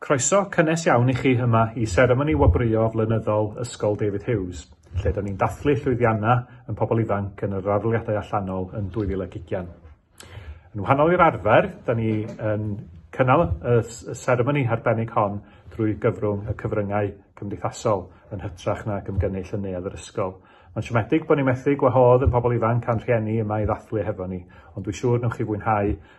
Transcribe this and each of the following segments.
Croeso cynnes iawn i chi yma i seremoni wobrwyo flynyddol Ysgol David Hughes, lle da ni'n dathlu llwyddianna yn pobl ifanc yn yr aroliadau allanol yn 2020. Yn wahanol i'r arfer, da ni yn cynnal y seremoni harbennig hon drwy gyfrwng y cyfryngau cymdeithasol yn hytrach na gymgynnull yn neuadd yr ysgol. Mae'n siomedig bod ni'n methu gwahodd yn pobl ifanc a'n rhieni yma i ddathlu hefo ni, ond dwi'n siŵr newch chi fwynhau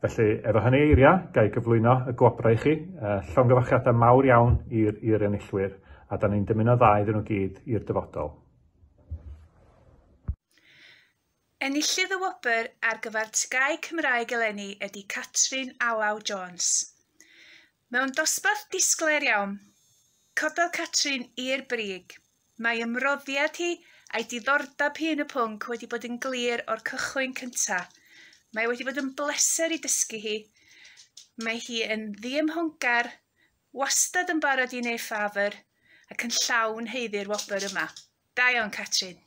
Felly, efo hynny eiria, ga i gyflwyno y gwobrau i chi. Uh, llongyfarchiadau mawr iawn i'r enillwyr, a da ni'n dymuno dda iddyn nhw gyd i'r dyfodol. Enillydd y wobr ar gyfer TGAU Cymraeg eleni ydy Catrin Alaw Jones. Mewn dosbarth disglair iawn, cododd Catrin i'r brig Mae ymroddiad hi a'i diddordeb hi yn y pwnc wedi bod yn glir o'r cychwyn cynta. Mae wedi bod yn bleser i dysgu hi. Mae hi yn ddiymhongar, wastad yn barod i neu ffafr, ac yn llawn heiddi'r wobr yma. Da iawn, Catrin.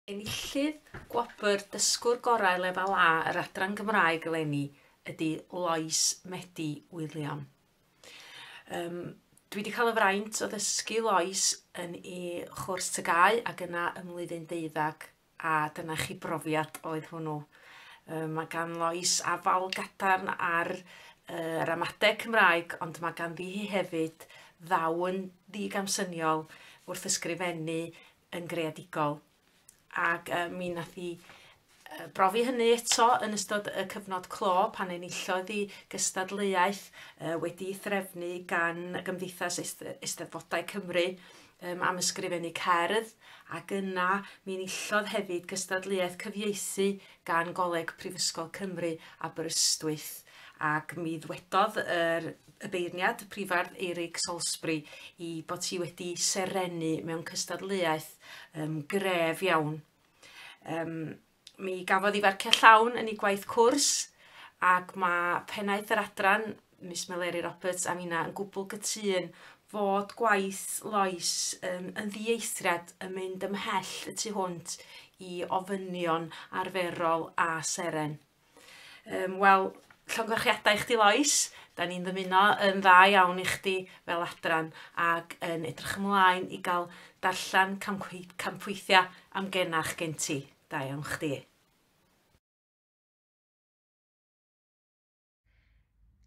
Enillydd gwobr Dysgwr Gorau Lefel A yr Adran Gymraeg eleni ydy Lois Medi Wiliam. Um, dwi wedi cael y fraint o ddysgu Lois yn ei chwrs tygau ac yna ym mlwyddyn deuddag a dyna chi brofiad oedd hwnnw. Um, mae gan Lois afal gadarn ar uh, ramadeg Cymraeg ond mae ganddi hi hefyd ddawn ddigamsyniol wrth ysgrifennu yn greadigol. Ac uh, mi nath i uh, brofi hynny eto yn ystod y cyfnod clo pan enillodd i gystadleuaeth uh, wedi threfnu gan Gymdeithas Eisteddfodau Cymru um, am ysgrifennu cerdd ac yna mi enillodd hefyd gystadleuaeth cyfieithu gan Goleg Prifysgol Cymru Aberystwyth ac mi ddwedodd yr y beirniad, Prifardd Eirig Salisbury, i bod hi wedi serennu mewn cystadleuaeth um, gref iawn. Um, mi gafodd i farciau llawn yn ei gwaith cwrs ac mae pennaeth yr adran, Miss Meleri Roberts, a finna yn gwbl gytun fod gwaith Lois um, yn ddieithriad yn mynd ymhell y tu hwnt i ofynion arferol a seren. Yym wel, llongyfarchiadau i chdi Lois, 'dan ni'n ddymuno yn dda iawn i chdi fel adran ac yn edrych ymlaen i ga'l darllen camgwei- campweithia' am genach gen ti. Da iawn chdi.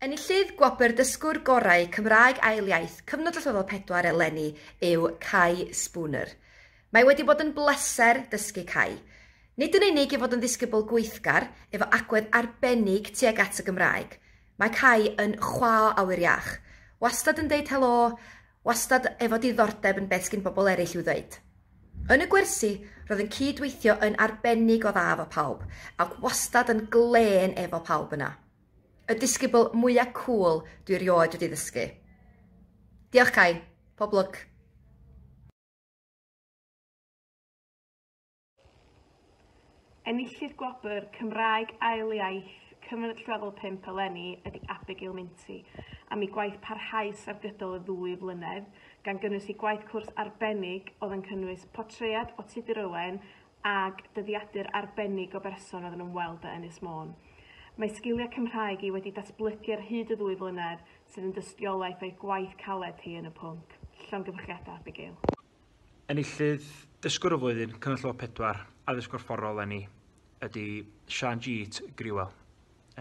Enillydd Gwobr Dysgwr Gorau Cymraeg Ail Iaith Cyfnod Allweddol 4 eleni yw Cai Spooner. Mae wedi bod yn bleser dysgu Cai. Nid yn unig ei fod yn ddisgybl gweithgar, efo agwedd arbennig tuag at y Gymraeg, mae Cai yn chwâ o awyr iach, wastad yn deud helo, Wastad efo diddordeb yn beth sgin bobl ereill i'w ddeud. Yn y gwersi, roedd yn cyd-weithio yn arbennig o dda efo pawb, ac wastad yn glên efo pawb yna. Y disgybl mwya cŵl dwi rioed wedi ddysgu. Diolch Cai, pob lwc! Enillydd gwobr Cymraeg Ail Iaith Cyfnod Lefel 5 eleni ydy Abigail Minty am ei gwaith parhaus ar gydol y ddwy flynedd, gan gynnwys ei gwaith cwrs arbennig oedd yn cynnwys portread o Tudur Owen ag dyddiadur arbennig o berson oedd yn ymweld â Ynys Môn. Mae sgiliau Cymraeg hi wedi datblygu ar hyd y ddwy flynedd, sydd yn dystiolaeth o'i gwaith caled hi yn y pwnc. Llongyfarchiadau, Abigail. Enillydd Dysgwr y Flwyddyn, Cyngor Llyfr Pedwar, Addysg Gorfforol Lenni, ydy Sian Jeet Griwel.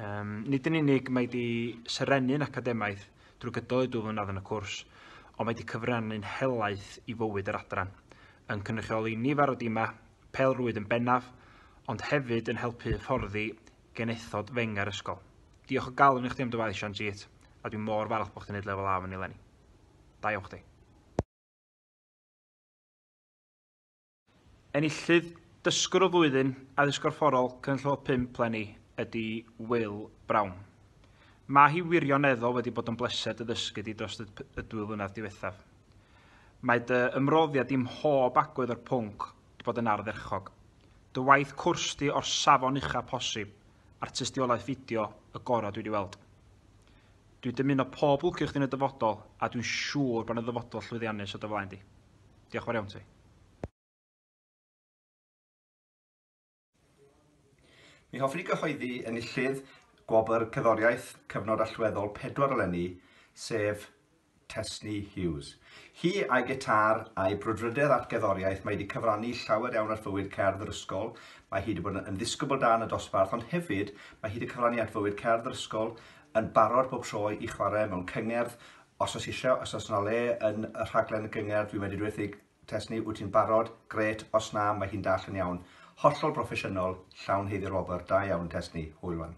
Um, nid yn unig mae wedi serennu'n academaidd drwy gydol ei dwy flynedd yn y cwrs, ond mae wedi cyfrannu'n helaeth i fywyd yr adran, yn cynrychioli nifer o dimau, pel rwyd yn bennaf, ond hefyd yn helpu hyfforddi genethod fenga'r ysgol. Diolch o galon i chdi am dy waith, Sian Jeet, a dwi'n mor falch bod chdi'n neud lefel A fan eleni. Da iawn chdi. Enillydd Dysgwr y Flwyddyn Addysg Gorfforol Cynulliol 5 leni ydy Will Brown. Mae hi wirioneddol wedi bod yn bleser dy ddysgu di dros y dwy flynedd diwethaf. Mae dy ymroddiad di mhob agwedd o'r pwnc wedi bod yn ardderchog. Dy waith cwrs di o'r safon ucha posib, a'r tystiolaeth fideo y gorau dwi wedi weld. Dwi'n dymuno pob lwc i chdi yn y dyfodol a dwi'n siŵr bod 'na ddyfodol llwyddiannus o dy flaen di. Diolch yn fawr iawn ti. Mi hoffwn i gyhoeddi enillydd Gwobr Cerddoriaeth Cyfnod Allweddol pedwar eleni, sef Tesni Hughes. Hi a'i gitâr a'i brwdfrydedd at gerddoriaeth mae wedi cyfrannu llawer iawn at fywyd cerdd yr ysgol, mae hi wedi bod yn ddisgybl da yn y dosbarth ond hefyd mae hi wedi cyfrannu at fywyd cerdd yr ysgol yn barod bob tro i chwarae mewn cyngerdd, os oes isio, os oes yna le yn y rhaglen gyngerdd, dwi'n medru dweuthu Tesni, wyt ti'n barod? Grêt, os na, mae hi'n dall yn iawn. Hollol broffesiynol, llawn heiddi'r-wobr, da iawn, Tesni. Hwyl 'wan.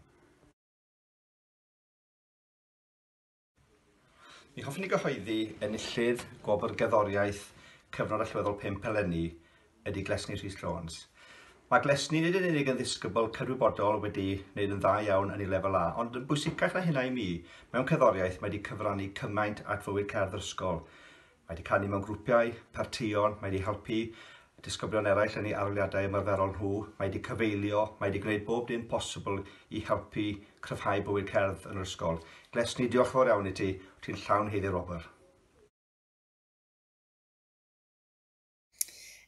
Mi hoffwn i gyhoeddi enillydd Gwobr Gerddoriaeth Cyfnod Allweddol 5 eleni ydy Glesni Rhys Jones. Mae Glesni nid yn unig yn ddisgybl cydwybodol wedi wneud yn dda iawn yn ei lefel A, ond yn bwysicach na hynna i mi, mewn cerddoriaeth mae wedi cyfrannu cymaint at fywyd cerdd yr ysgol. Mae wedi canu mewn grwpiau, partïon, mae wedi helpu disgyblion eraill yn eu aroliadau ymarferol nhw, mae wedi cyfeilio, mae wedi gwneud bob dim posibl i helpu cryfhau bywyd cerdd yn yr ysgol. Glesni, diolch yn fawr iawn i ti, wyt ti'n llawn haeddu Robert.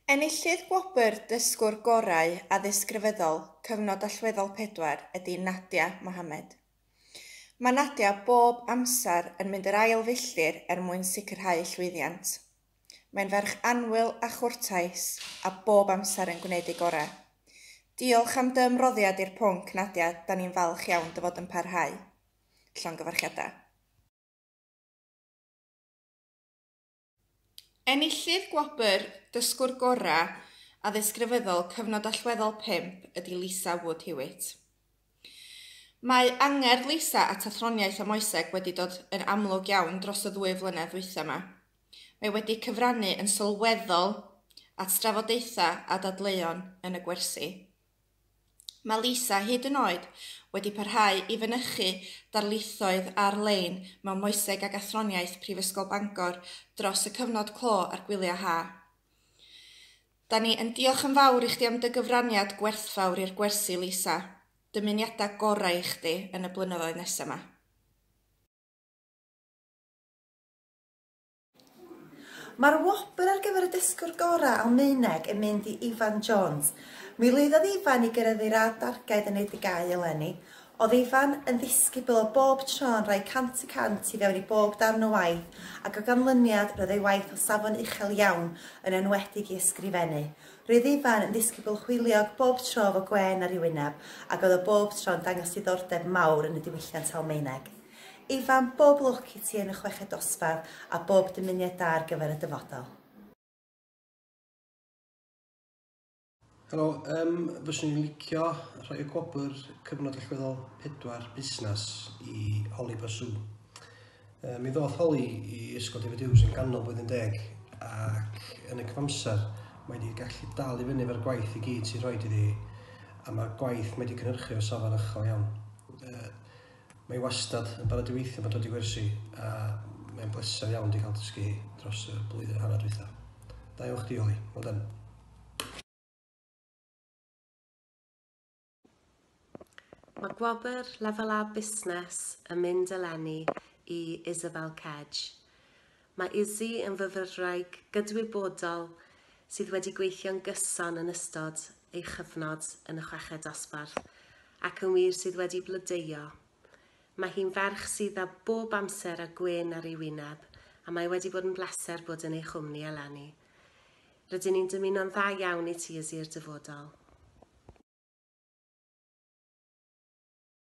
Enillydd gwobr Dysgwr Gorau Addysg Grefyddol Cyfnod Allweddol 4 ydy Nadia Mohamed. Mae Nadia bob amser yn mynd yr ail filltir er mwyn sicrhau llwyddiant. Mae'n ferch annwyl a chwrtais a bob amser yn gwneud ei gorau. Diolch am dy ymroddiad i'r pwnc, Nadia, da ni'n falch iawn dy fod yn parhau. Llongyfarchiadau. Enillydd gwobr Dysgwr Gorau Addysg Grefyddol Cyfnod Allweddol 5 ydy Lisa Wood Hewitt. Mae angerdd Lisa at athroniaeth a moeseg wedi dod yn amlwg iawn dros y ddwy flynedd ddwytha' 'ma. Mae wedi cyfrannu yn sylweddol at drafodaethau a dadleuon yn y gwersi. Mae Lisa hyd yn oed wedi parhau i fynychu darlithoedd ar-lein mewn Moeseg ac Athroniaeth Prifysgol Bangor dros y cyfnod clo a'r gwyliau ha. Da ni yn diolch yn fawr i chdi am dy gyfraniad gwerthfawr i'r gwersi, Lisa. Dymuniadau gorau i chdi yn y blynyddoedd nesaf 'ma. Mae'r wobr ar gyfer y dysgwr gorau Almaeneg yn mynd i Ifan Jones. Mi lwyddodd Ifan i gyrraedd ei radd darged yn ei degau eleni. Oedd Ifan yn ddisgybl o bob tro yn rhoi cant y cant i fewn i bob darn o waith ac o ganlyniad roedd ei waith o safon uchel iawn, yn enwedig i ysgrifennu. Roedd Ifan yn ddisgybl hwyliog bob tro efo gwên ar ei wyneb ac oedd o bob tro yn dangos diddordeb mawr yn y diwylliant Almaeneg. Ifan, bob lwc i ti yn y chweched dosbarth a bob dymuniad da ar gyfer y dyfodol. Helo, um, fyswn i'n licio rhoi y gwobr cyfnod allweddol pedwar busnes i Holly Basu. Um, mi ddoth Holly i Ysgol David Hughes yn ganol blwyddyn deg ac yn y cyfamser mae wedi gallu dal i fyny efo'r gwaith i gyd sy'n rhoi iddi a mae'r gwaith mae wedi cynhyrchu o safon uchel iawn. Uh, Mae hi wastad yn barod i weithio pan dod i gwersi a mae'n bleser iawn di cael dysgu hi dros y blwyddyn a hanner dwytha. Da iawn chdi Oli, well done. Mae gwobr Lefel A Busnes yn mynd eleni i Isabel Kedge. Mae Izzy yn fyfyrwraig gydwybodol sydd wedi gweithio'n gyson yn ystod ei chyfnod yn y Chweched Dosbarth ac yn wir sydd wedi blodeuo. Mae hi'n ferch sydd â bob amser a gwên ar ei wyneb a mae wedi bod yn bleser bod yn ei chwmni eleni. Rydyn ni'n dymuno'n dda iawn i ti Izzy i'r dyfodol.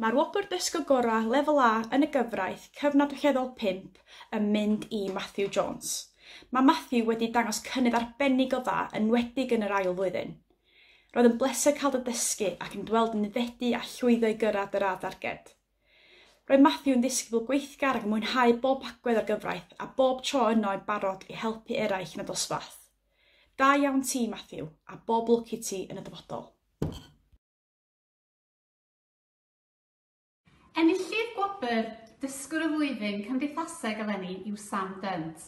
Mae'r Wobr Dysgo Gorau Lefel A yn y Gyfraith Cyfnodweithredol 5 yn mynd i Matthew Jones. Mae Matthew wedi dangos cynnydd arbennig o dda, enwedig yn yr ail flwyddyn. Roedd yn bleser cael dy ddysgu ac yn dy weld yn aeddfedu a llwyddo i gyrraedd dy radd darged. Roedd Matthew yn ddisgybl gweithgar ac yn mwynhau bob agwedd o'r gyfraith a bob tro yno yn barod i helpu eraill yn y dosbarth. Da iawn ti Matthew a bob lwc i ti yn y dyfodol. Enillydd gwobr Dysgwr y Flwyddyn Cymdeithaseg eleni yw Sam Dunt.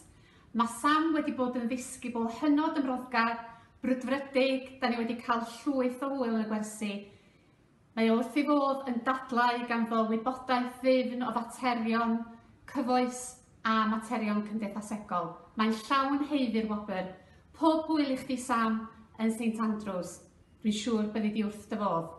Mae Sam wedi bod yn ddisgybl hynod ymroddgar, brwdfrydig, da ni wedi cael llwyth o hwyl yn y gwersi, Mae o wrth ei fodd yn dadlau ganddo wybodaeth ddifn o faterion cyfoes a materion cymdeithasegol. Mae'n llawn haeddu'r wobr. Pob hwyl i chdi Sam yn Saint Andrews. Dwi'n siŵr byddi di wrth dy fodd.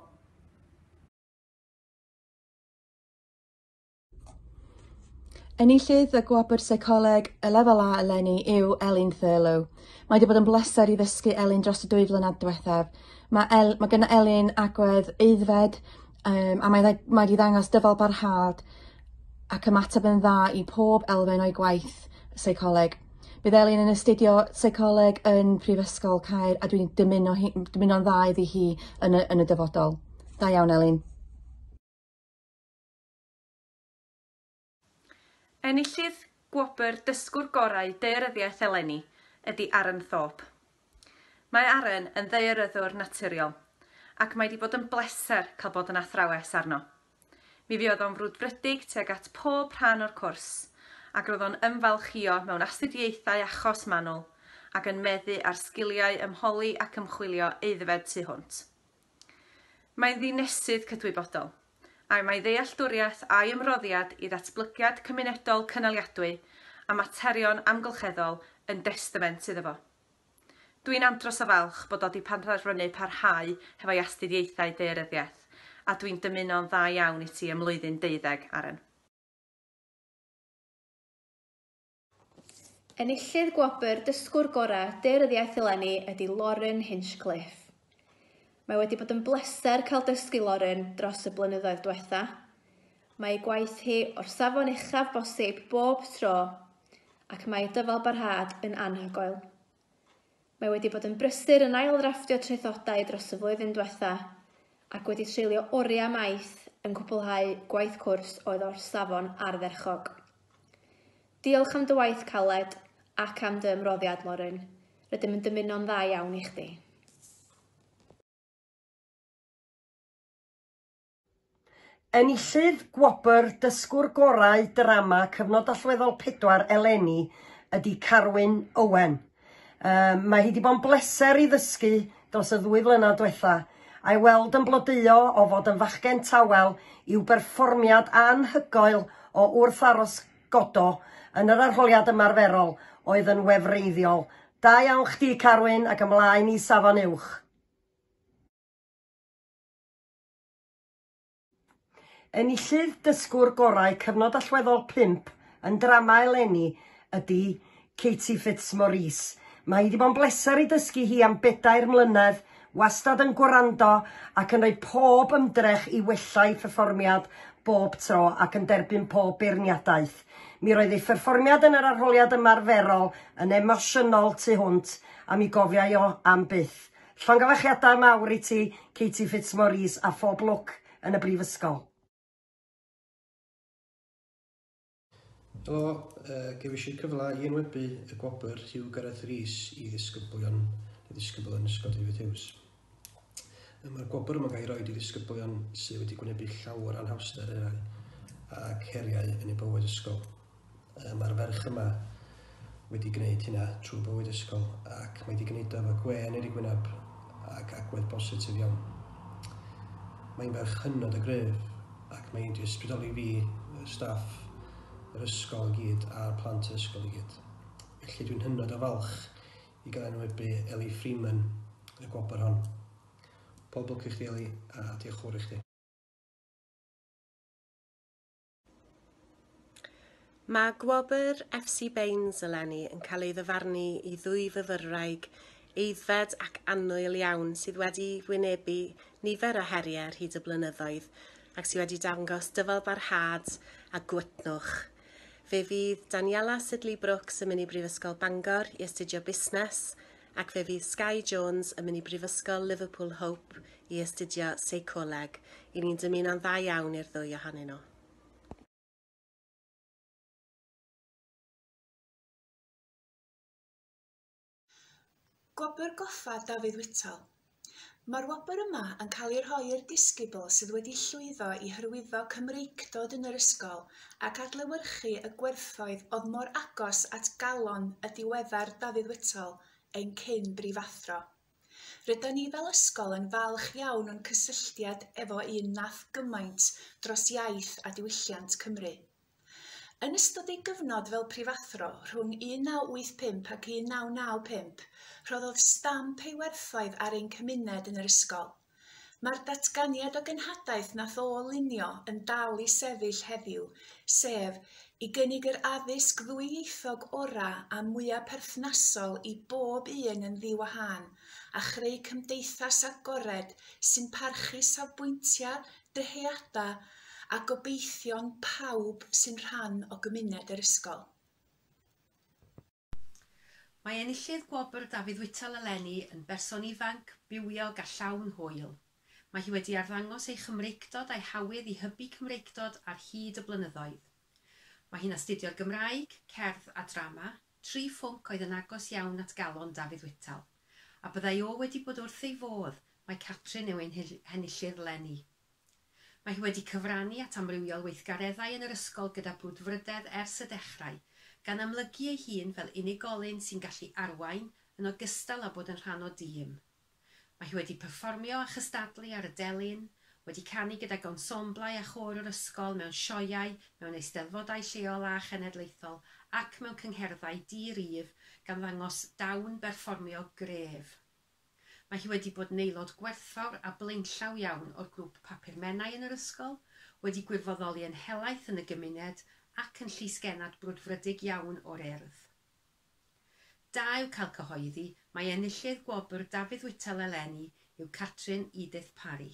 Enillydd y Gwobr Seicoleg y Lefel A eleni yw Elin Thurlow. Mae wedi bod yn bleser i ddysgu Elin dros y dwy flynedd diwethaf. Mae, El, mae gen Elin agwedd eiddfed um, a mae, mae wedi ddangos dyfal barhad ac ymateb yn dda i pob elfen o'i gwaith seicoleg. Bydd Elin yn astudio seicoleg yn Prifysgol Caer a dwi'n dymuno hi, dymuno'n dda iddi hi yn y, yn y dyfodol. Da iawn Elin. Enillydd gwobr Dysgwr Gorau Daearyddiaeth eleni ydy Aren Thorpe. Mae Aren yn ddaearyddwr naturiol ac mae 'di bod yn bleser cael bod yn athrawes arno. Mi fuodd o'n frwdfrydig tuag at pob rhan o'r cwrs ac roedd o'n ymfalchïo mewn astudiaethau achos manwl ac yn meddu ar sgiliau ymholi ac ymchwilio aeddfed tu hwnt. Mae'n ddinesydd cydwybodol, a mae ddealltwriaeth a'i ymroddiad i ddatblygiad cymunedol cynaliadwy a materion amgylcheddol yn destament iddo fo. Dw i'n andros o falch bod o 'di penderfynu parhau hefo'i astudiaethau daearyddiaeth, a dw i'n dymuno'n dda iawn i ti ym mlwyddyn deuddeg, Aaron. Enillydd gwobr Dysgwr Gorau Dur yr Iaith eleni ydy Lauren Hinchcliffe. Mae wedi bod yn bleser cael dysgu Lauren dros y blynyddoedd diwetha. Mae ei gwaith hi o'r safon uchaf bosib bob tro ac mae ei dyfalbarhad yn anhygoel. Mae wedi bod yn brysur yn ailddrafftio traethodau dros y flwyddyn diwetha' ac wedi treulio oriau maith yn cwblhau gwaith cwrs oedd o'r safon ardderchog. Diolch am dy waith caled ac am dy ymroddiad, Lauren. Rydym yn dymuno'n dda iawn i chdi. Enillydd gwobr Dysgwr Gorau Drama Cyfnod Allweddol 4 eleni ydy Carwyn Owen. Um, mae hi di bod yn bleser i ddysgu dros y ddwy flynedd diwetha, a'i weld yn blodeuo o fod yn fachgen tawel i'w berfformiad anhygoel o wrth aros godo yn yr arholiad ymarferol oedd yn wefreiddiol. Da iawn chdi Carwyn ac ymlaen i safon uwch. Enillydd Dysgwr Gorau Cyfnod Allweddol 5 yn Drama eleni ydy Katie Fitzmaurice. Mae hi 'di bod yn bleser i dysgu hi am bedair mlynedd, wastad yn gwrando ac yn rhoi pob ymdrech i wella'i pherfformiad bob tro ac yn derbyn pob beirniadaeth. Mi roedd ei pherfformiad yn yr arholiad ymarferol yn emosiynol tu hwnt a mi gofiai o am byth. Llongyfarchiadau mawr i ti, Katie Fitzmaurice, a phob lwc yn y Brifysgol. Helo, gefais i'r cyfle i enwebu y gwobr Huw Gareth Rees i ddisgyblion neu ddisgybl yn Ysgol David Hughes. Mae'r gwobr yma'n cael ei roi i ddisgyblion sydd wedi gwynebu llawer anhawster eraill ac heriau yn eu bywyd ysgol. Yy mae'r ferch yma wedi gwneud hynna trwy bywyd ysgol ac mae wedi gwneud o efo gwên ar ei gwynab ac agwedd bositif iawn. Mae'n ferch hynod o gryf ac mae hi wedi ysbrydoli fi, y staff, yr ysgol i gyd a'r plant yr ysgol i gyd. Felly dwi'n hynod o falch i gael enwebu Ellie Freeman yn y gwobr hon. Pob lwc i chdi Ellie a diolch yn fawr i chdi. Mae gwobr FC Baines eleni yn cael ei ddyfarnu i ddwy fyfyrwraig aeddfed ac annwyl iawn sydd wedi wynebu nifer o heriau ar hyd y blynyddoedd ac sydd wedi dangos dyfalbarhad a gwytnwch. Fe fydd Daniela Sidley Brooks yn mynd i Brifysgol Bangor i astudio busnes Ac fe fydd Skye Jones yn mynd i Brifysgol Liverpool Hope i astudio Seicoleg. I ni'n dymuno'n dda iawn i'r ddwy ohonyn nhw. Gwobr Goffa Dafydd Whitall. Mae'r wobr yma yn cael ei rhoi i'r disgybl sydd wedi llwyddo i hyrwyddo Cymreictod yn yr ysgol ac adlewyrchu y gwerthoedd oedd mor agos at galon y diweddar Dafydd Whittle, ein cyn brifathro. Rydan ni fel ysgol yn falch iawn o'n cysylltiad efo un nath gymaint dros iaith a diwylliant Cymru. Yn ystod ei gyfnod fel prifathro rhwng 1985 ac 1995, rhoddodd stamp ei werthoedd ar ein cymuned yn yr ysgol. Mae'r datganiad o genhadaeth na ôl lunio yn dal i sefyll heddiw, sef, i gynnig yr addysg ddwyieithog orau a mwyaf perthnasol i bob un yn ddi-wahân, a chreu cymdeithas agored sy'n parchu safbwyntiau, dyheadau a gobeithion pawb sy'n rhan o gymuned yr ysgol. Mae enillydd gwobr Dafydd Whittle eleni yn berson ifanc, bywiog a llawn hwyl. Mae hi wedi arddangos ei Chymreictod a'i hawydd i hybu Cymreictod ar hyd y blynyddoedd. Mae hi'n astudio'r Gymraeg, Cerdd a Drama, tri phwnc oedd yn agos iawn at galon Dafydd Whittle. A byddai o wedi bod wrth ei fodd, mae Catrin yw ein henillydd 'leni. Mae hi wedi cyfrannu at amrywiol weithgareddau yn yr ysgol gyda brwdfrydedd ers y dechrau, gan amlygu ei hun fel unigolyn sy'n gallu arwain yn ogystal â bod yn rhan o dîm. Mae hi wedi perfformio a chystadlu ar y delyn, wedi canu gydag ensemblau a chôr yr ysgol mewn sioeau, mewn eisteddfodau lleol a chenedlaethol ac mewn cyngherddau di-rif gan ddangos dawn berfformio gref. Mae hi wedi bod yn aelod gwerthfawr a blaenllaw iawn o'r grŵp Papur Menai yn yr ysgol, wedi gwirfoddoli yn helaeth yn y gymuned ac yn llysgennad brwdfrydig iawn o'r Urdd. Da yw cael cyhoeddi mai enillydd gwobr Dafydd Whittle eleni yw Catrin Edith Parry.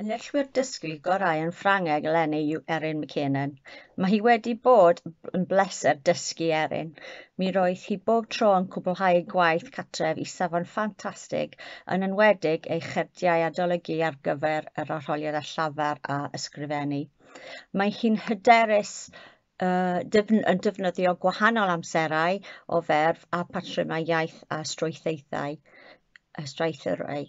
Yn neilltuwr dysgu gorau yn Ffrangeg eleni yw Erin McKiernan. Mae hi wedi bod yn bleser dysgu Erin. Mi roedd hi bob tro yn cwblhau ei gwaith catref i safon ffantastig, yn enwedig ei cherdiau adolygu ar gyfer yr arholiad â llafar a ysgrifennu. Mae hi'n hyderus yn defnyddio gwahanol amserau o ferf a patrymau iaith a strwythaethau, a straethrau.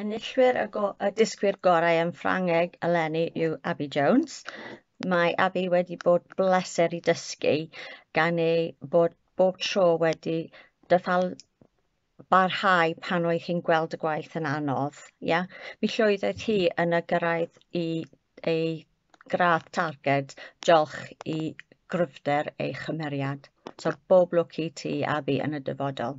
Enillwyr y, go y dysgwyr gorau yn Ffrangeg eleni yw Abby Jones. Mae Abby wedi bod bleser i dysgu gan ei bod bob tro wedi dyfal barhau pan oedd hi'n gweld y gwaith yn anodd. Ia? Mi llwyddodd hi yn y gyrraedd i ei gradd targed, diolch i gryfder ei chymeriad. So bob lwc i ti, Abby, yn y dyfodol.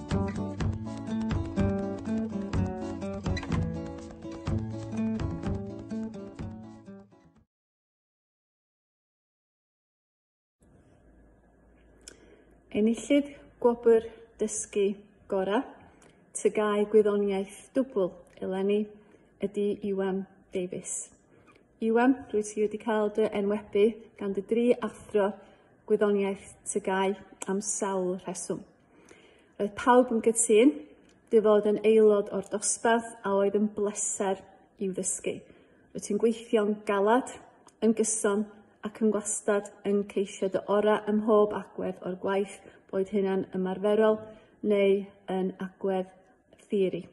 Enillydd gwobr dysgu gorau Tygau Gwyddoniaeth Dwbl eleni ydy Iwan Davies. Iwan, rwy ti wedi cael dy enwebu gan dy dri athro gwyddoniaeth tygau am sawl rheswm. Roedd pawb yn gytun dy fod yn aelod o'r dosbarth a oedd yn bleser i'w ddysgu. Rwyt ti'n gweithio'n galad, yn gyson ac yn gwastad yn ceisio dy orau ym mhob agwedd o'r gwaith, boed hynna'n ymarferol neu yn agwedd theori.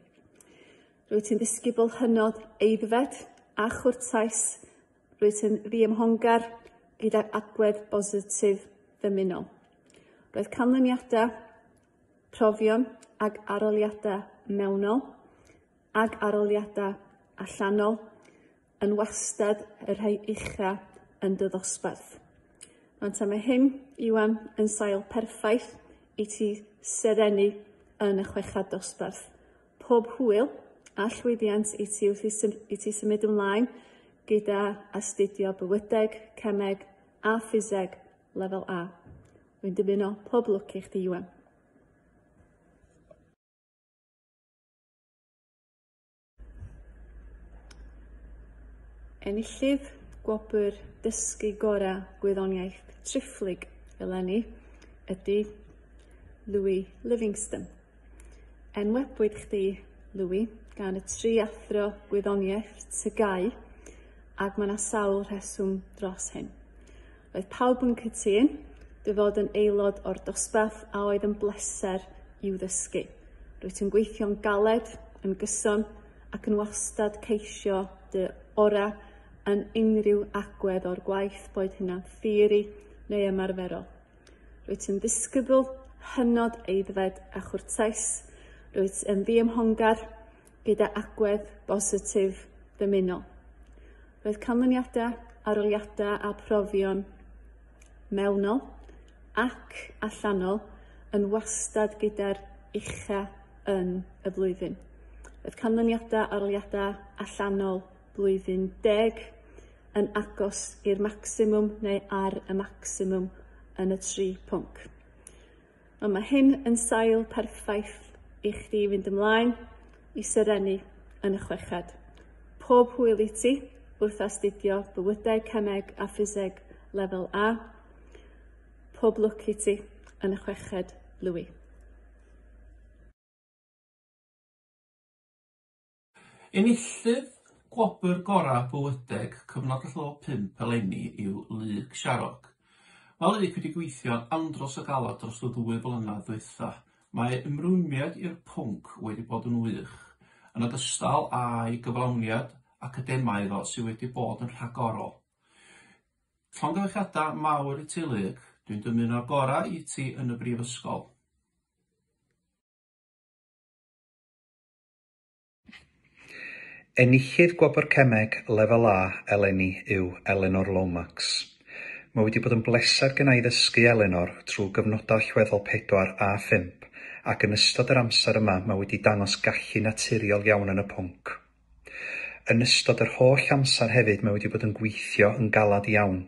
Rwyt ti'n ddysgu bod hynod eiddfed a chwrtais Rwyt yn ddiymhongar gyda'r agwedd bositif ddymunol. Roedd canlyniadau, profion ag aroliadau mewnol ag aroliadau allanol yn wastad y rhai ucha yn dy ddosbarth. Ond ta mae hyn, Iwan, yn sail perffaith i ti serennu yn y chweched dosbarth. pob hwyl a llwyddiant i ti wrth i, sym i ti symud ymlaen gyda astudio bywydeg, cemeg a ffiseg lefel A. Rwy'n dymuno pob lwc i chdi, Iwan. Enillydd gwobr dysgu gorau gwyddoniaeth triphlyg eleni ydy Louis Livingston. Enwebwyd chdi, Louis, gan y tri athro gwyddoniaeth TGAU, ac mae 'na sawl rheswm dros hyn. Roedd pawb yn cytun dy fod yn aelod o'r dosbarth a oedd yn bleser i'w ddysgu. Rwyt yn gweithio'n galed, yn gyson ac yn wastad ceisio dy ora yn unrhyw agwedd o'r gwaith, boed hynna'n theori neu ymarferol. Rwyt yn ddisgybl hynod eiddfed a chwrtais. Rwyt yn ddiymhongar gyda agwedd bositif ddymunol. Roedd canlyniadau, aroliadau a profion mewnol ac allanol yn wastad gyda'r ucha yn y flwyddyn. Roedd canlyniadau, aroliadau allanol blwyddyn deg, yn agos i'r maximum neu ar y maximum yn y tri pwnc. Ond mae hyn yn sail perffaith i chdi fynd ymlaen i serennu yn y chweched. Pob hwyl i ti wrth astudio bywydau cemeg a ffiseg lefel A. Pob lwc i ti yn y chweched, Louis. Enillydd gwobr gorau bywydeg cyfnod y llo pump eleni yw Luke Sharrock. Mae Luke wedi gweithio'n andros o galed dros y ddwy flynedd ddwytha. Mae ei ymrwymiad i'r pwnc wedi bod yn wych, yn ogystal â'i gyflawniad academaidd o sydd wedi bod yn rhagorol. Llongyfarchiadau mawr i ti Luke, dwi'n dymuno'r gorau i ti yn y brifysgol. Enillydd Gwobr Cemeg Lefel A eleni yw Eleanor Lomax. Mae wedi bod yn bleser genna i ddysgu Eleanor trwy gyfnodau allweddol pedwar a phump ac yn ystod yr amser yma mae wedi dangos gallu naturiol iawn yn y pwnc. Yn ystod yr holl amser hefyd mae wedi bod yn gweithio yn galed iawn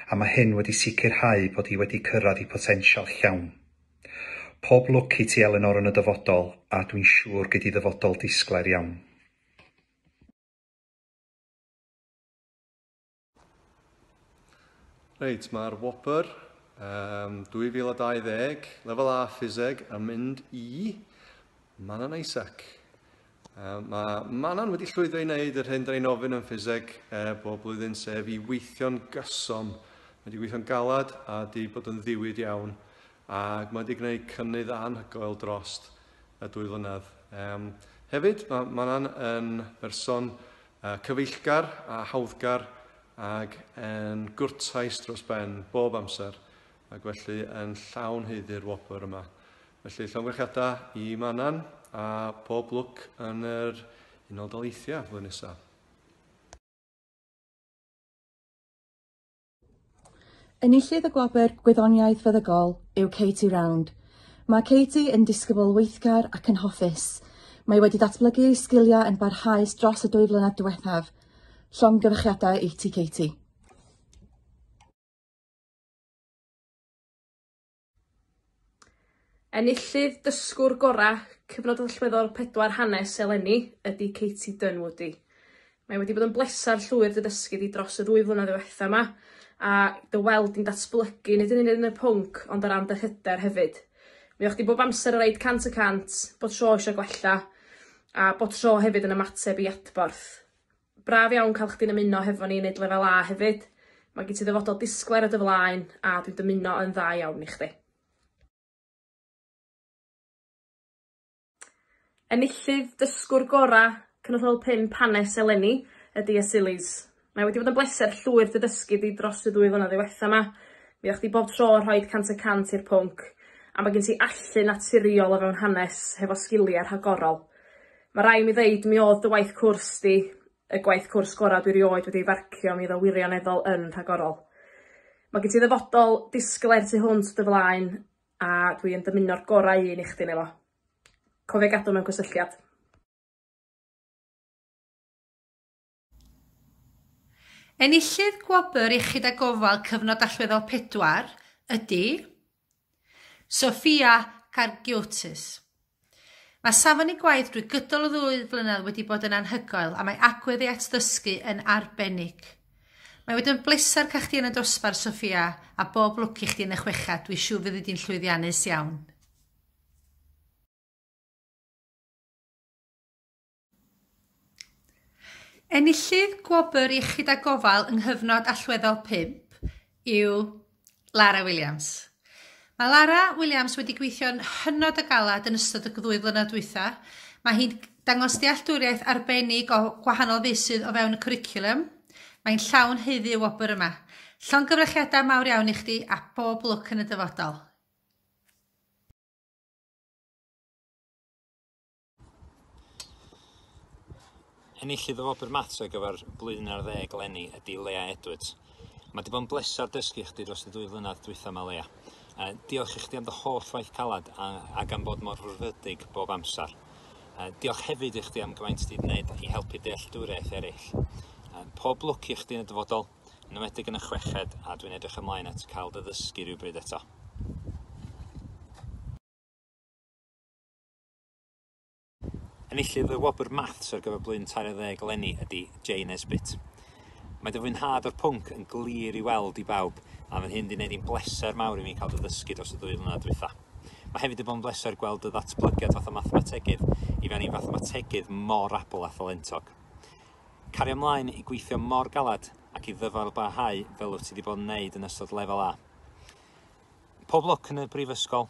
a mae hyn wedi sicrhau bod hi wedi cyrraedd ei potensial llawn. Pob lwc i ti Elinor yn y dyfodol a dwi'n siŵr gei di ddyfodol disglair iawn. Reit, mae'r Whopper um, 2020, lefel A ffiseg, yn mynd i Manon Isaac. Mae Manon wedi llwyddo i wneud yr hyn da ni'n ofyn yn ffiseg eh, bob blwyddyn, sef i weithio'n gyson. Mae wedi gweithio'n galed a wedi bod yn ddiwyd iawn ac mae wedi gwneud cynnydd anhygoel drost y dwy flynedd. Um, hefyd, mae Manon yn berson uh, cyfeillgar a hawddgar ac yn gwrtais dros ben bob amser ac felly yn llawn heiddi'r wobr yma. Felly llongyfarchiadau i Manan a pob lwc yn yr Unol Daleithiau flwyddyn nesaf. Enillydd y gwobr Gwyddoniaeth Feddygol yw Katie Round. Mae Katie yn disgybl weithgar ac yn hoffus. Mae wedi datblygu ei sgiliau yn barhaus dros y dwy flynedd diwethaf. Llongyfarchiadau i ti, Katie. Enillydd Dysgwr Gorau Cyfnod Allweddol 4 Hanes eleni ydy Katie Dunwoody. Mae wedi bod yn bleser llwyr dy dysgu di dros y ddwy flynedd ddiwetha' 'ma a dy weld di'n datblygu nid yn unig yn y pwnc ond o ran dy hyder hefyd. Mi o'ch di bob amser yn roid cant y cant, bob tro isio gwella a bob tro hefyd yn ymateb i adborth. Braf iawn cael chdi'n ymuno hefo ni i neud lefel A hefyd. Mae gen ti ddyfodol disglair o dy flaen a dwi'n dymuno yn dda iawn i chdi. Enillydd dysgwr gorau Cynrychiol 5 hanes eleni ydy Asilis. Mae wedi bod yn bleser llwyr dy ddysgu di dros y ddwy flynedd ddiwetha ma. Mi o'ch di bob tro yn rhoid cant y cant i'r pwnc a mae gen ti allu naturiol o fewn hanes hefo sgilia rhagorol. Ma rai' mi ddeud mi odd dy waith cwrs di y gwaith cwrs gora dwi rioed wedi farcio mi o'dd o wirioneddol yn rhagorol. Ma gen ti ddyfodol disglair tu hwnt dy flaen a dwi yn dymuno'r gorau un i chdi 'ne fo. Cofia gadw mewn cysylltiad. Enillydd Gwobr Iechyd a Gofal Cyfnod Allweddol 4 ydy Sofia Kargiotis. Mae safon ei gwaith drwy gydol y ddwy flynedd wedi bod yn anhygoel a mae agwedd ei atddysgu yn arbennig. Mae wedi yn bleser cael chdi yn y dosbarth, Sofia, a bob lwc i chdi yn y chweched, dwi siŵr fyddi di'n llwyddiannus iawn. Enillydd Gwobr Iechyd a Gofal yng nghyfnod allweddol 5 yw Lara Williams. Mae Lara Williams wedi gweithio'n hynod o galed yn ystod y ddwy flynedd dwytha. Mae hi'n dangos dealltwriaeth arbennig o gwahanol feysydd o fewn y cwricwlwm. Mae'n llawn haeddu y wobr yma. Llongyfrychiadau mawr iawn i chdi a bob lwc yn y dyfodol. Enillydd y Wobr Maths ar gyfer blwyddyn ar ddeg eleni ydy Lea Edwards. Mae wedi bod yn bleser dysgu chdi dros y dwy flynedd dwytha yma Lea. Uh, diolch i chdi am dy holl waith calad a, a gan bod mor rhwrfydig bob amser. Uh, diolch hefyd i chdi am gymaint ti wedi gwneud i helpu dealltwriaeth eraill. Uh, pob lwc i chdi yn y dyfodol, yn ymwedig yn y chweched, a dwi'n edrych ymlaen at cael dy ddysgu rhywbryd eto. Enillydd y wobr Maths ar gyfer blwyddyn 20 eleni ydy Jay Nesbitt. Mae dy fwynhad o'r pwnc yn glir i weld i bawb, a mae'n hyn di wneud i'n bleser mawr i mi cael dy ddysgu dros y ddwy flynedd dwytha. Mae hefyd wedi bod yn bleser gweld dy ddatblygiad fatha mathemategydd i fewn i fathemategydd mor abl a thalentog. Cario ymlaen i gweithio mor galed ac i ddyfal barhau fel wyt ti wedi bod yn wneud yn ystod lefel A. Pob lwc yn y brifysgol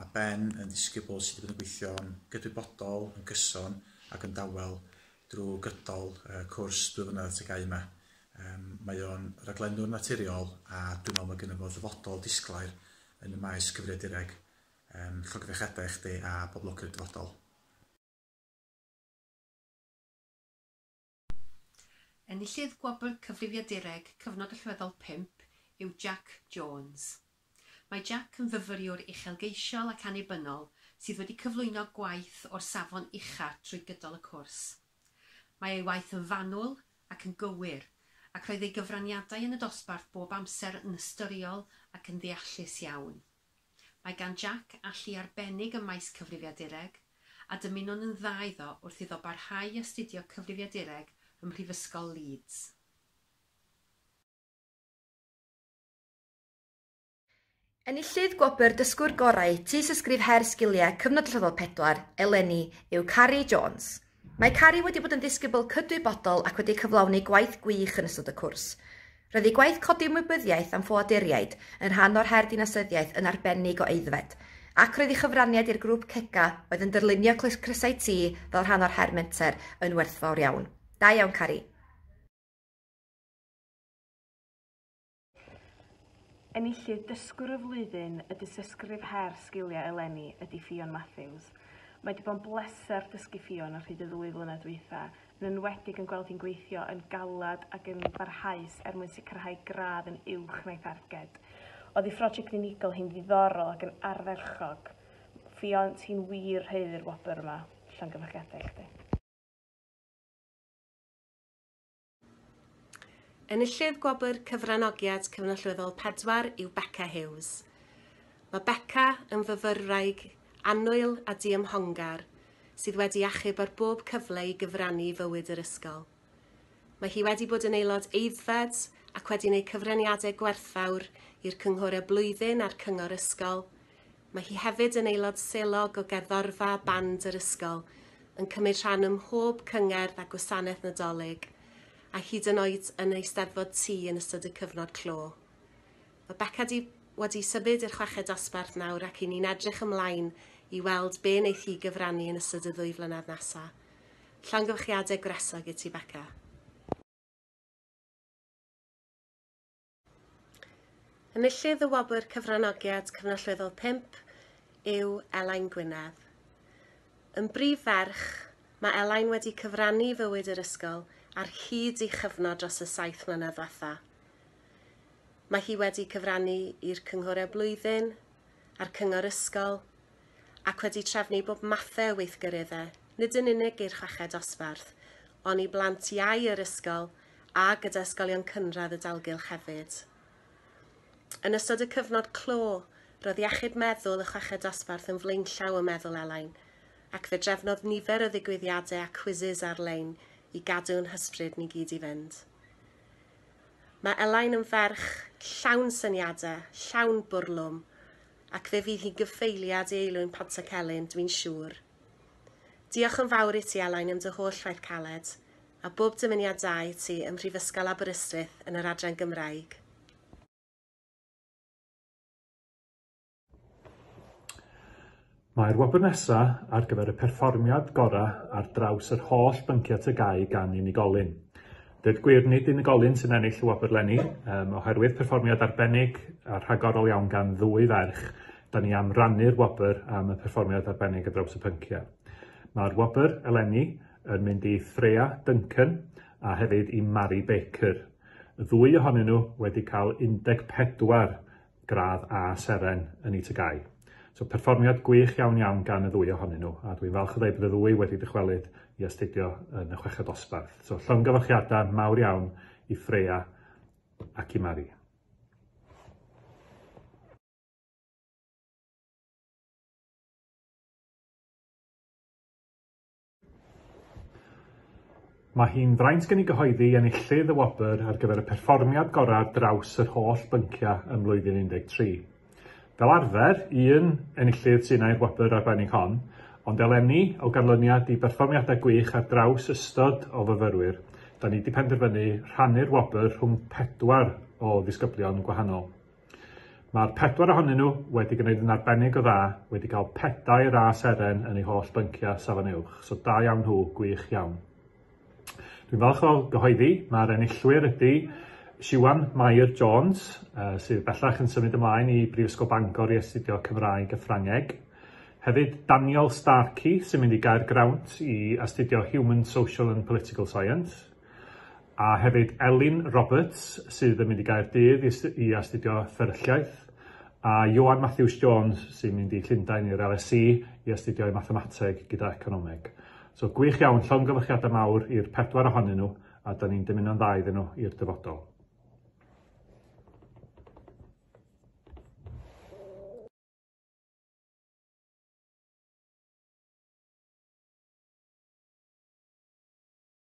Mae Ben yn ddisgybl sydd wedi bod yn gweithio'n gydwybodol, yn gyson ac yn dawel drwy gydol y cwrs dwy flynedd teg au yma. Mae o'n raglennwr naturiol a dwi'n meddwl mae gennyf fo ddyfodol disglair yn y maes cyfriadureg, llogyfechiadau i chdi a bob lwc yn y dyfodol. Enillydd Gwobr Cyfrifiadureg Cyfnod Allweddol Pump yw Jac Jones. Mae Jac yn fyfyriwr uchelgeisiol ac annibynnol sydd wedi cyflwyno gwaith o'r safon ucha trwy gydol y cwrs. Mae ei waith yn fanwl ac yn gywir, ac roedd ei gyfraniadau yn y dosbarth bob amser yn ystyriol ac yn ddeallus iawn. Mae gan Jack allu arbennig ym maes cyfrifiadureg, a dymunwn yn dda iddo wrth iddo barhau i astudio cyfrifiadureg ym Mhrifysgol Leeds. Enillydd gwobr Dysgwr Gorau Tystysgrif Her Sgiliau Cyfnod Rhyfel Pedwar eleni yw Carrie Jones. Mae Carrie wedi bod yn ddisgybl cydwybodol ac wedi cyflawni gwaith gwych yn ystod y cwrs. Roedd ei gwaith codi ymwybyddiaeth am ffoaduriaid yn rhan o'r her dinasyddiaeth yn arbennig o aeddfed, ac roedd ei chyfraniad i'r grŵp CECA oedd yn dyrlunio crysau T fel rhan o'r her menter yn werthfawr iawn. Da iawn, Carrie! Enillydd Dysgwr y Flwyddyn y Dystysgrif Her Sgiliau eleni ydy Ffion Matthews. Mae 'di bod yn bleser dysgu Ffion ar hyd y ddwy flynedd dwytha, yn enwedig yn gweld hi'n gweithio yn galed ac yn barhaus er mwyn sicrhau gradd yn uwch na'i tharged. Oddi phrosiect unigol hi'n ddiddorol ac yn ardderchog. Ffion, ti'n wir haeddu'r wobr yma. Llongyfarchiadau i chdi. Enillydd Gwobr Cyfranogiad Cyfnallweddol 4 yw Becca Hughes. Mae Becca yn fyfyrwraig annwyl a diymhongar sydd wedi achub ar bob cyfle i gyfrannu i fywyd yr ysgol. Mae hi wedi bod yn aelod eiddfed ac wedi gwneud cyfraniadau gwerthfawr i'r cynghorau blwyddyn a'r cyngor ysgol, Mae hi hefyd yn aelod selog o gerddorfa band yr ysgol, yn cymryd rhan ym mhob cyngerdd a gwasanaeth Nadolig, a hyd yn oed yn Eisteddfod Tŷ yn ystod y cyfnod clo. Mae Beca di wedi symud i'r chweched dosbarth nawr ac i ni'n edrych ymlaen i weld be wneith hi gyfrannu yn ystod y ddwy flynedd nesa. Llongyfarchiadau gwresog i ti Beca. Enillydd y Wobr Cyfranogiad Cyfnallweddol 5 yw Elain Gwynedd. Yn brif ferch, mae Elain wedi cyfrannu i fywyd yr ysgol ar hyd ei chyfnod dros y saith mlynedd ddiwetha. Mae hi wedi cyfrannu i'r cynghorau blwyddyn a'r cyngor ysgol ac wedi trefnu bob mathau o weithgareddau, nid yn unig i'r chweched dosbarth, ond i blant iau yr ysgol a gyda ysgolion cynradd y dalgylch hefyd. Yn ystod y cyfnod clo, roedd iechyd meddwl y chweched dosbarth yn flaenllaw ym meddwl Elain, ac fe drefnodd nifer o ddigwyddiadau a cwizis ar-lein i gadw'n hysbryd ni gyd i fynd. Mae Elain yn ferch llawn syniadau, llawn bwrlwm, ac fe fydd hi'n gyfeiliad i Eilwyn Pontycelyn, dwi'n siŵr. Diolch yn fawr i ti, Elain, am dy holl waith caled. a bob dymuniadau i ti ym Mhrifysgol Aberystwyth yn yr adran Gymraeg. Mae'r wobr nesa ar gyfer y perfformiad gorau ar draws yr holl bynciau TGAU gan unigolyn. Dweud gwir, nid unigolyn sy'n ennill y wobr lenni, um, oherwydd perfformiad arbennig a rhagorol iawn gan ddwy ferch, da ni am rannu'r wobr am y perfformiad arbennig ar draws y pynciau. Mae'r wobr eleni yn mynd i Freya Duncan a hefyd i Mari Baker. Y ddwy ohonyn nhw wedi cael 14 gradd A seren yn eu tygau. So perfformiad gwych iawn iawn gan y ddwy ohonyn nhw, a dwi'n falch o ddweud bod y ddwy wedi dychwelyd i astudio yn y chweched dosbarth. So llongyfarchiadau mawr iawn i Freya ac i Mari. Mae hi'n fraint gen i gyhoeddi enillydd y wobr ar gyfer y perfformiad gorau ar draws yr holl bynciau ym mlwyddyn 13. Fel arfer, un enillydd sy'n ai'r wobr arbennig hon, ond eleni, o ganlyniad i berfformiadau gwych ar draws ystod o fyfyrwyr, da ni wedi penderfynu rhannu'r wobr rhwng pedwar o ddisgyblion gwahanol. Mae'r pedwar ohonyn nhw wedi gwneud yn arbennig o dda, wedi cael pedair a seren yn eu holl bynciau Safon Uwch, so da iawn nhw, gwych iawn. Dwi'n falch o gyhoeddi, mae'r enillwyr ydy Siwan Mair Jones, uh, sydd bellach yn symud ymlaen i Brifysgol Bangor i astudio Cymraeg a Ffrangeg. Hefyd Daniel Starkey sy'n mynd i gael Graunt i astudio Human, Social and Political Science. A hefyd Elin Roberts sydd yn mynd i Gaerdydd i astudio fferylliaeth, a Ioan Matthews Jones sy'n mynd i Llundain i'r LSE i astudio ei mathemateg gyda economeg. So gwych iawn, llongyfarchiadau mawr i'r pedwar ohonyn nhw a da ni'n dymuno'n dda iddyn nhw i'r dyfodol.